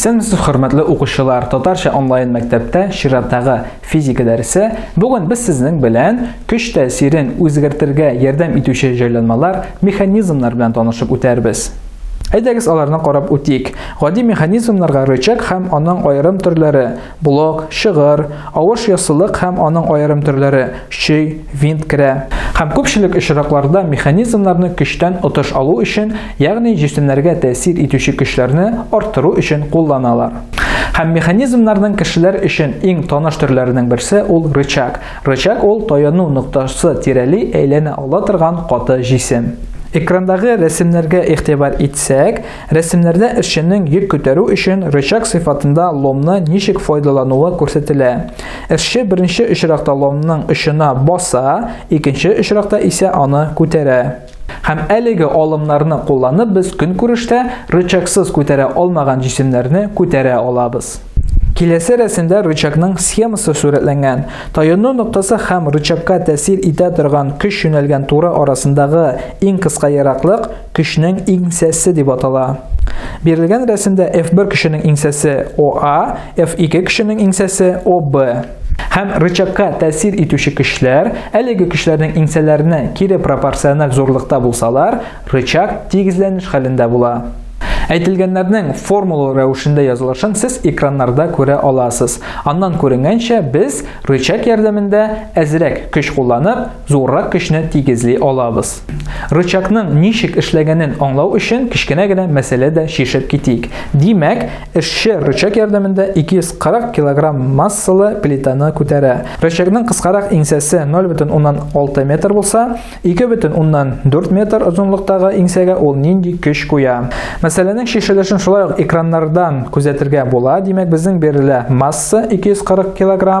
Исәнмесез, хөрмәтле укучылар! Татарча онлайн мәктәптә чираттагы физика дәресе. Бүген без сезнең белән көч тәэсирен үзгәртергә ярдәм итүче җайланмалар, механизмнар белән танышып үтәрбез. Әйдәгез аларны карап үтик. Гади механизмнарга рычаг һәм аның аерым төрләре, Блок, шыгыр, авыш яссылык һәм аның аерым төрләре, чөй, винт керә. Һәм күпчелек очракларда механизмнарны көчтән отыш алу өчен, ягъни җисемнәргә тәэсир итүче көчләрне арттыру өчен кулланалар. Һәм механизмнарның кешеләр өчен иң таныш төрләренең берсе ул рычаг. Рычаг ул таяну ноктасы тирәли әйләнә ала торган каты җисем. Экрандагы рәсемнәргә игътибар итсәк, Рәсемнәрдә эшченең йөк күтәрү өчен рычаг сыйфатында ломны ничек файдалануы күрсәтелә. Эшче беренче очракта ломның очына баса, икенче очракта исә аны күтәрә. Һәм әлеге алымнарны кулланып без көнкүрештә рычагсыз күтәрә алмаган җисемнәрне күтәрә алабыз. Киләсе рәсемдә рычагның схемасы сурәтләнгән. Таюну ноктасы һәм рычагка тәэсир итә торган көч юнәлгән туры арасындагы иң кыска ераклык Кешенең иңсәсе дип атала. Бирелгән рәсемдә F1 кешенең иңсәсе OA, F2 кешенең иңсәсе OB. Һәм рычагка тәэсир итүче көчләр, әлеге көчләрнең иңсәләренә кире пропорциональ зурлыкта булсалар, рычаг тигезләнеш хәлендә була. Әйтелгәннәрнең формула рәвешендә язылышын сез экраннарда күрә аласыз. Аннан күренгәнчә, без рычаг ярдәмендә әзрәк көч кулланып, Зуррак көчне тигезли алабыз. Рычагның ничек эшләгәнен аңлау өчен кечкенә генә мәсьәлә дә чишеп китик. Димәк, эшче рычаг ярдәмендә 240 кг массалы плитаны күтәрә. Рычагның кыскарак иңсәсе 0,6 метр булса, 2,4 метр озынлыктагы иңсәгә ул нинди көч куя? Мәсьәләнең чишелешен шулай ук экраннардан күзәтергә була. Димәк, безнең бирелә масса 240 кг.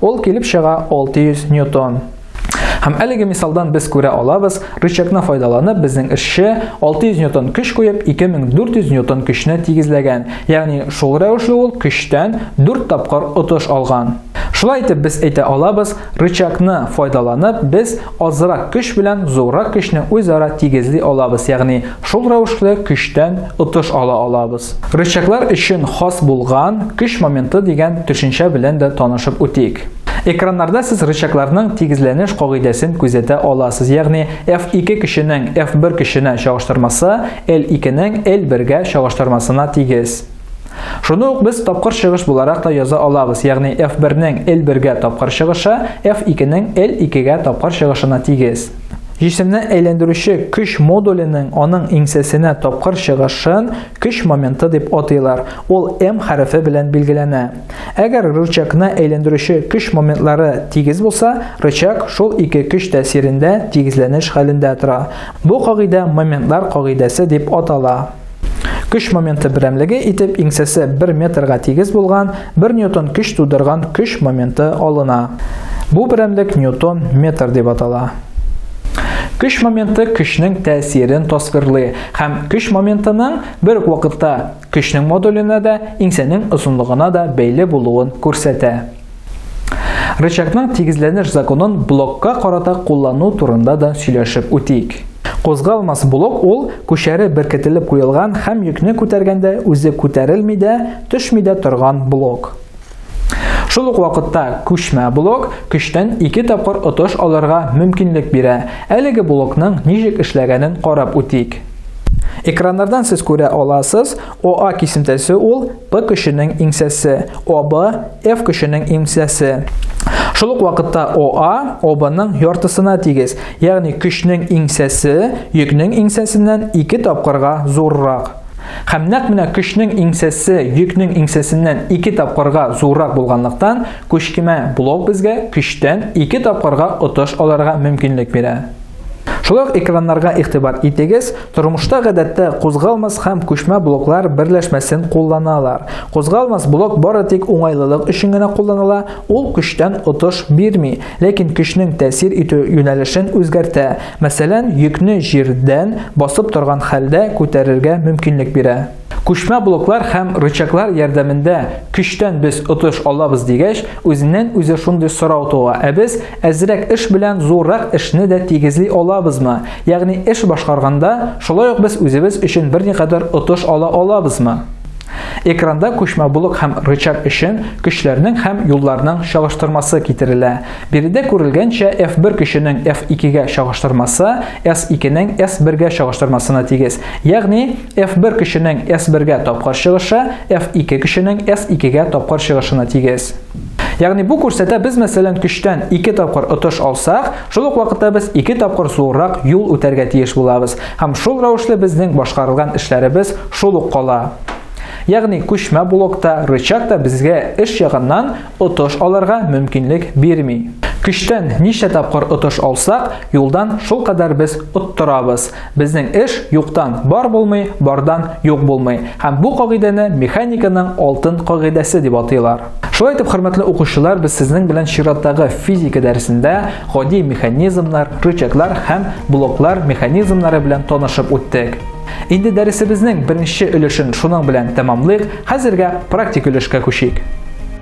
Ул килеп чыга 600 ньютон. Һәм әлеге мисалдан без күрә алабыз, рычагны файдаланып безнең эшче 600 ньютон көч куеп 2400 ньютон көчне тигезләгән. Ягъни шул рәвешле ул көчтән 4 тапкыр отыш алган. Шулай итеп без әйтә алабыз, рычагны файдаланып без азрак көч белән зуррак көчне үзара тигезли алабыз, ягъни шул рәвешле көчтән отыш ала алабыз. Рычаглар өчен хас булган көч моменты дигән төшенчә белән дә танышып үтик. Экраннарда сез рычагларның тигезләнеш кагыйдәсен күзәтә аласыз, ягъни F2 көченең F1 көченә чагыштырмасы L2 нең L1 гә чагыштырмасына тигез. Шуны ук без тапкыр чыгыш буларак та яза алабыз, ягъни F1-нең L1-гә тапкыр чыгышы F2-нең L2-гә тапкыр чыгышына тигез. Җисемне әйләндерүче көч модуленең аның иңсәсенә тапкыр чыгышын көч моменты дип атыйлар, ул m хәрефе белән билгеләнә. Әгәр рычагны әйләндерүче көч моментлары тигез булса, рычаг шул ике көч тәэсирендә тигезләнеш хәлендә тора. Бу кагыйдә моментлар кагыйдәсе дип атала. Көч моменты берәмлеге итеп иңсәсе 1 метрга тигез булган 1 ньютон көч тудырган көч моменты алына. Бу берәмлек ньютон метр дип атала. Көч моменты көчнең тәэсирен тасвирлый һәм көч моментының бер үк вакытта көчнең модуленә дә, иңсәнең озынлыгына да бәйле булуын күрсәтә. Рычагның тигезләнеш законын блокка карата куллану турында да сөйләшеп үтик. Кузгалмас блок ул күчәре беркетелеп куелган һәм йөкне күтәргәндә үзе күтәрелми дә, төшми дә торган блок. Шул ук вакытта күчмә блок көчтән ике тапкыр отыш алырга мөмкинлек бирә. Әлеге блокның ничек эшләгәнен карап үтик. Экраннардан сез күрә аласыз, ОА кисемтәсе ул P көченең иңсәсе, ОБ F көченең иңсәсе. Шул ук вакытта ОА ОБның яртысына тигез, ягъни көчнең иңсәсе йөкнең иңсәсеннән ике тапкырга зуррак. Һәм нәкъ менә көчнең иңсәсе йөкнең иңсәсеннән ике тапкырга зуррак булганлыктан, күчкемә блок безгә көчтән ике тапкырга отыш алырга мөмкинлек бирә. Шулай ук экраннарга игътибар итегез, тормышта гадәттә кузгалмас һәм күчмә блоклар берләшмәсен кулланалар. Кузгалмас блок бары тик уңайлылык өчен генә кулланыла, ул көчтән отыш бирми, ләкин көчнең тәэсир итү юнәлешен үзгәртә, мәсәлән, йөкне җирдән, басып торган хәлдә, күтәрергә мөмкинлек бирә. Күчмә блоклар һәм рычаглар ярдәмендә көчтән без отыш алабыз дигәч, үзеннән-үзе шундый сорау туа, ә без әзрәк эш белән зуррак эшне дә тигезли алабызмы? Ягъни эш башкарганда, шулай ук без үзебез өчен берникадәр отыш ала алабызмы? Экранда күчмә блок һәм рычаг өчен көчләрнең һәм юлларның чагыштырмасы китерелә. Биредә күрелгәнчә F1 көченең F2 гә чагыштырмасы S2 нең S1 гә чагыштырмасына тигез. Ягъни F1 көченең S1-гә тапкыр чыгышы F2 көченең S2-гә тапкыр чыгышына тигез. Ягъни бу күрсәтә без мәсәлән көчтән 2 тапкыр отыш алсак, шул ук вакытта без 2 тапкыр зуррак юл үтәргә тиеш булабыз. Һәм шул рәвешле безнең башкарылган эшләребез шул ук кала. Ягъни күчмә блокта, рычаг та безгә эш ягыннан отыш алырга мөмкинлек бирми. Көчтән ничә тапкыр отыш алсак, юлдан шул кадәр без оттырабыз. Безнең эш юктан бар булмый, бардан юк булмый. Һәм бу кагыйдәне механиканың алтын кагыйдәсе дип атыйлар. Шулай итеп, хөрмәтле укучылар, без сезнең белән чираттагы физика дәресендә гади механизмнар, рычаглар һәм блоклар механизмнары белән танышып үттек. Инде дәресебезнең беренче өлешен шуның белән тәмамлыйк, хәзергә практик өлешкә күчик.